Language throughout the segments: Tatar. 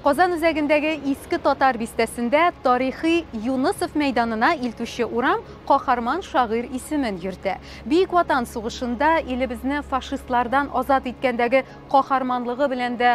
Казан үзәгендәге иске татар бистәсендә тарихи Юнысов мәйданына илтүче урам каһарман шагыйрь исемен йөртә. Бөек Ватан сугышында илебезне фашистлардан азат иткәндәге каһарманлыгы белән дә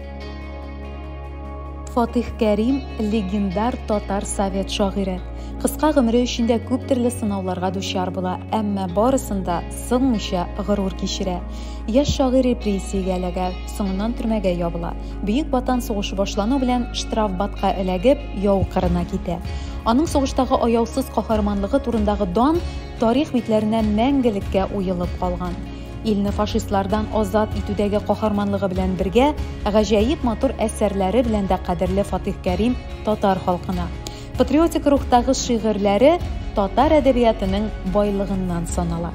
Фатих Кәрим легендар татар совет шагыйре. Кыска гомере эчендә күп төрле сынауларга дучар була, әмма барысында сынмыйча горур кичерә. Яшь шагыйр репрессиягә эләгә, соңыннан төрмәгә ябыла. Бөек Ватан сугышы башлану белән штрафбатка эләгеп, яу кырына китә. Аның сугыштагы аяусыз каһарманлыгы турындагы дан тарих битләренә мәңгелеккә уелып калган. илне фашистлардан азат итүдәге каһарманлыгы белән бергә, гаҗәеп матур әсәрләре белән дә кадерле Фатих Кәрим татар халкына. Патриотик рухтагы шигырьләре татар әдәбиятының байлыгыннан санала.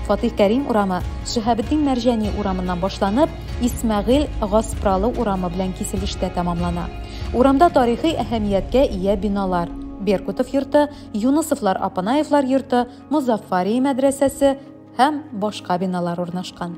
Фатих Кәрим урамы Шиһабетдин Мәрҗани урамыннан башланып, Исмәгыйль Гаспралы урамы белән киселештә тәмамлана. Урамда тарихи әһәмияткә ия биналар, Беркутов йорты, Юнысовлар Апанаевлар йорты, Мозаффария мәдрәсәсе һәм башка биналар урнашкан.